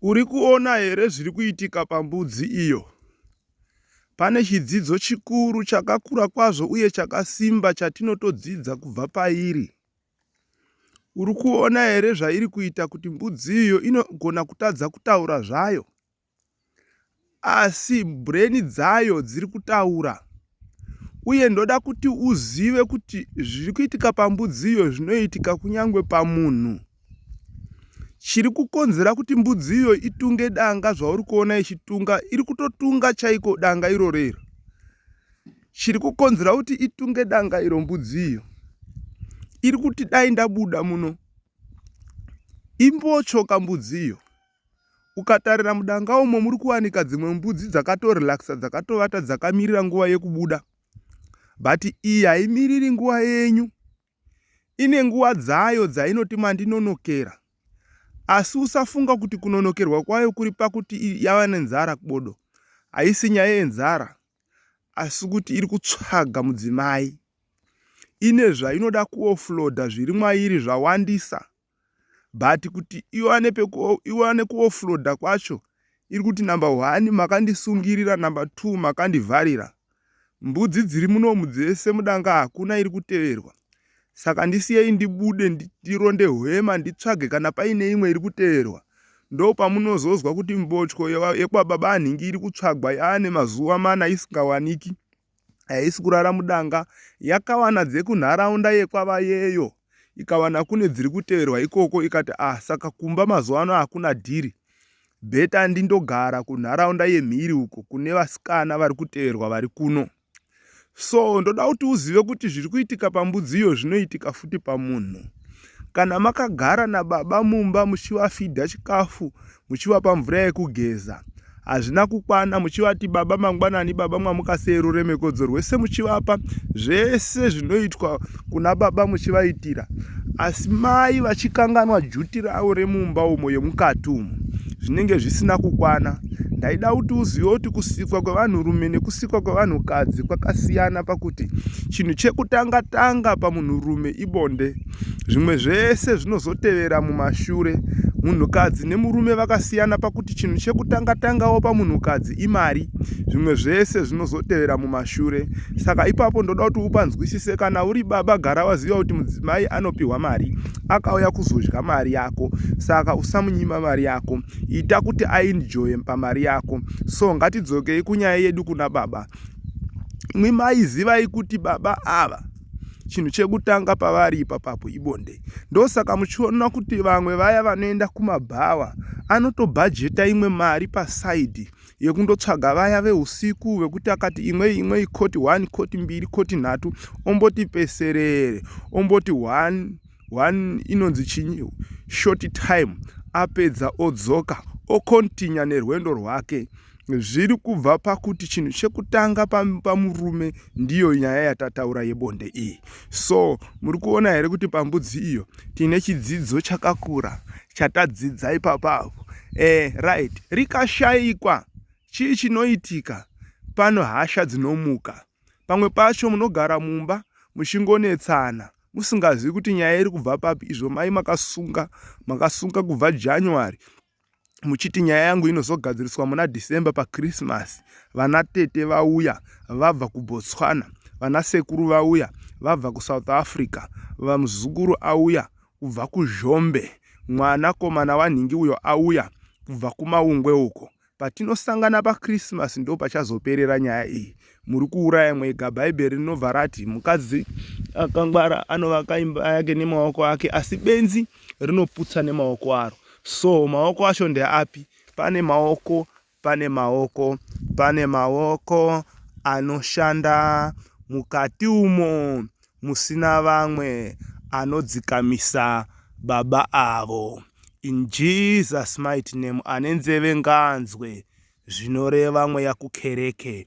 Uri kuona here zviri kuitika pambudzi iyo? Pane chidzidzo chikuru chakakura kwazvo uye chakasimba chatinotodzidza kubva pairi. Uri kuona here zvairi kuita kuti mbudzi iyo inogona kutadza kutaura zvayo? asi brain dzayo dziri kutaura uye ndoda kuti uzive kuti zviri kuitika pambudziyo zvinoitika kunyange pamunhu chiri kukonzera kuti mbudziyo itunge danga zvauri kuona ichitunga iri kutotunga chaiko danga iro rero chiri kukonzera kuti itunge danga iro mbudziyo iri kuti dai ndabuda muno imbotyoka mbudziyo Ukatarira mudanga umo muri kuwanika dzimwe mbudzi dzakato relaxa dzakatovata dzakamirira nguva yekubuda but iyi haimiriri nguva yenyu ine nguva dzayo dzainoti mandinonokera asi usafunga kuti kunonokerwa kwayo kuri pakuti yava nenzara bodo haisi nyaya yenzara asi kuti iri kutsvaga mudzimai ine zvainoda kuofloda zviri mwairi zvawandisa but kuti iwane peku iwane kuofloda kwacho iri kuti number one makandisungirira number two makandivharira mbudzi dziri munomu dzese mudanga hakuna iri kuteverwa saka ndisiyei ndibude ndironde hwema nditsvage kana paine imwe iri kuteverwa ndo pamunozozwa kuti mbotyo yekwababa anhingi iri kutsvagwa yaane mazuva mana isingawaniki haisi kurara mudanga yakawana dzekunharaunda yekwavayeyo ikawana kune dziri kuteverwa ikoko ikati ah saka kumba mazuva ano hakuna dhiri bheta ndindogara kunharaunda yemhiri uko kune vasikana vari kuteverwa vari kuno so ndoda kuti uzive kuti zviri kuitika pambudziyo zvinoitika futi pamunhu kana makagara nababa mumba muchivafidha chikafu muchivapa mvura yekugeza hazvina kukwana muchivati baba mangwanani baba mwamuka sei ruremekodzo rwese muchivapa zvese zvinoitwa kuna baba muchivaitira asi mai vachikanganwa juti ravo remumba umo yemukati umo zvinenge zvisina kukwana ndaida kuti uzive kuti kusikwa kwevanhurume nekusikwa kwevanhukadzi kwakasiyana pakuti chinhu chekutanga tanga pamunhurume ibonde zvimwe zvese zvinozotevera mumashure munhukadzi nemurume vakasiyana pakuti chinhu chekutanga tangawo pamunhukadzi imari zvimwe zvese zvinozotevera mumashure saka ipapo ndoda kuti upanzwisise kana uri baba gara waziva kuti mudzimai anopiwa mari akauya kuzodya mari yako saka usamunyima mari yako ita kuti ainjoye pamari yako so ngatidzokei kunyaya yedu kuna baba mwimai zivai kuti baba ava chinhu chekutanga pavari ipapapo ibonde ndosaka muchiona kuti vamwe vaya vanoenda kumabhawa anotobhajeta imwe mari pasaidi yekundotsvaga vaya veusiku vekuti akati imwe imwe ikoti one koti mbiri koti nhatu omboti peserere omboti one one inonzi chinyi short time apedza odzoka okontinya nerwendo rwake zviri kubva pakuti chinhu chekutanga pamurume ndiyo nyaya yatataura yebonde iyi so muri kuona here kuti pambudzi iyo tine chidzidzo chakakura chatadzidza ipapavo e eh, right rikashaikwa chii chinoitika pano hasha dzinomuka pamwe pacho munogara mumba muchingonetsana musingazivi kuti nyaya iri kubva papi izvo mai makasunga makasunga kubva january muchiti nyaya yangu inozogadziriswa muna december pachristmas vana tete vauya vabva kubotswana vana sekuru vauya vabva kusouth africa vamuzukuru auya kubva kuzhombe mwanakomana wanhingi uyo auya kubva kumaungwe uko Patinosangana paChristmas ndo pachazoperera nyaya iyi. Muri kuuraya mwega. Bhaibheri rinobva rati mukadzi akangwara anovaka imba yake nemaoko ake asi benzi rinoputsa nemaoko aro. So maoko acho ndeapi? Pane maoko, pane maoko, pane maoko anoshanda mukati umo. musina vamwe anodzikamisa baba avo in Jesus mighty name ane nzeve ngaanzwe zvinoreva mweya kukereke.